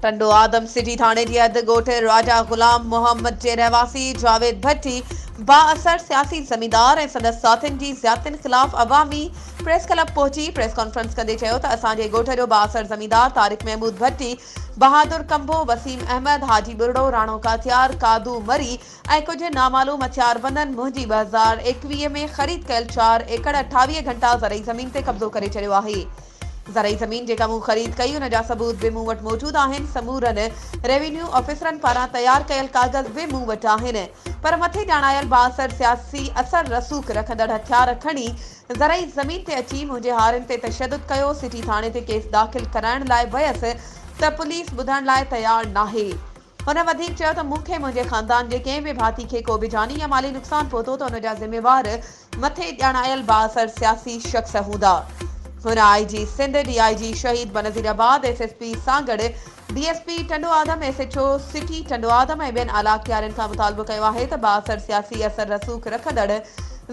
Tando Adam city ٿاڻي جي اڌ ڳوٺ راجا غلام محمد جي رهواسي جاويد ڀٽي بااثر سياسي زميندار ۽ سندس ساٿين جي زيادتين خلاف عوامي پريس ڪلب پهچي پريس ڪانفرنس ڪندي چيو ته اسان جي ڳوٺ جو بااثر زميندار طارق محمود ڀٽي بهادر ڪنڀو، وسيم احمد، حاجي ٻرڙو، راڻو ڪاتيار، قادو مري ۽ ڪجهه نامعلوم هٿياربندن منهنجي ٻه هزار ايڪويهه ۾ خريد ڪيل چار ايڪڙ اٺاويهه گهنٽا زرعي زمين تي قبضو ڪري ڇڏيو آهي. زرعي زمين جيڪا مون خريد ڪئي ان جا ثبوت به مون وٽ موجود آهن، سمورن روينيو آفيسرن پاران تيار ڪيل ڪاغذ به مون وٽ آهن پر مٿي ڄاڻايل بااثر سياسي اثر رسوخ رکندڙ هٿيار کڻي زرعي زمين تي اچي منهنجي هارين تي تشدد ڪيو، سٽي ٿاڻي تي ڪيس داخل ڪرائڻ لاء ويس ته پوليس ٻڌڻ لاء تيار ناهي. هن وڌيڪ چيو ته مون کي منهنجي خاندان جي ڪنهن به ڀاتي کي ڪو به جاني يا مالي نقصان پهتو ته ان جا ذميوار مٿي ڄاڻايل بااثر سياسي شخص هوندا. هن آء جي Sindh, D I G Shaheed Benazirabad, S S P Sanghar, D S P Tando Adam, S H O city Tando Adam ۽ ٻين اعليٰ اختيارين کان مطالبو ڪيو آهي ته بااثر سياسي اثر رسوخ رکندڙ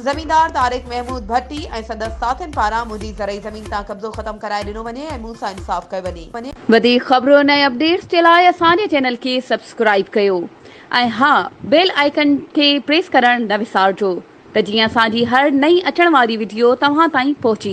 زميندار طارق محمود ڀٽي ۽ سندس ساٿين پاران منهنجي زرعي زمين تان قبضو ختم ڪرائي ڏنو وڃي ۽ مون سان انصاف ڪيو وڃي. وڌيڪ خبرن ۽ اپڊيٽس جي لاء اسان جي چينل کي سبسڪرائيب ڪيو ۽ ها بيل آئيڪن کي پريس ڪرڻ نه وسارجو ته جيئن اسان جي هر نئين اچڻ واري وڊيو توهان تائين پهچي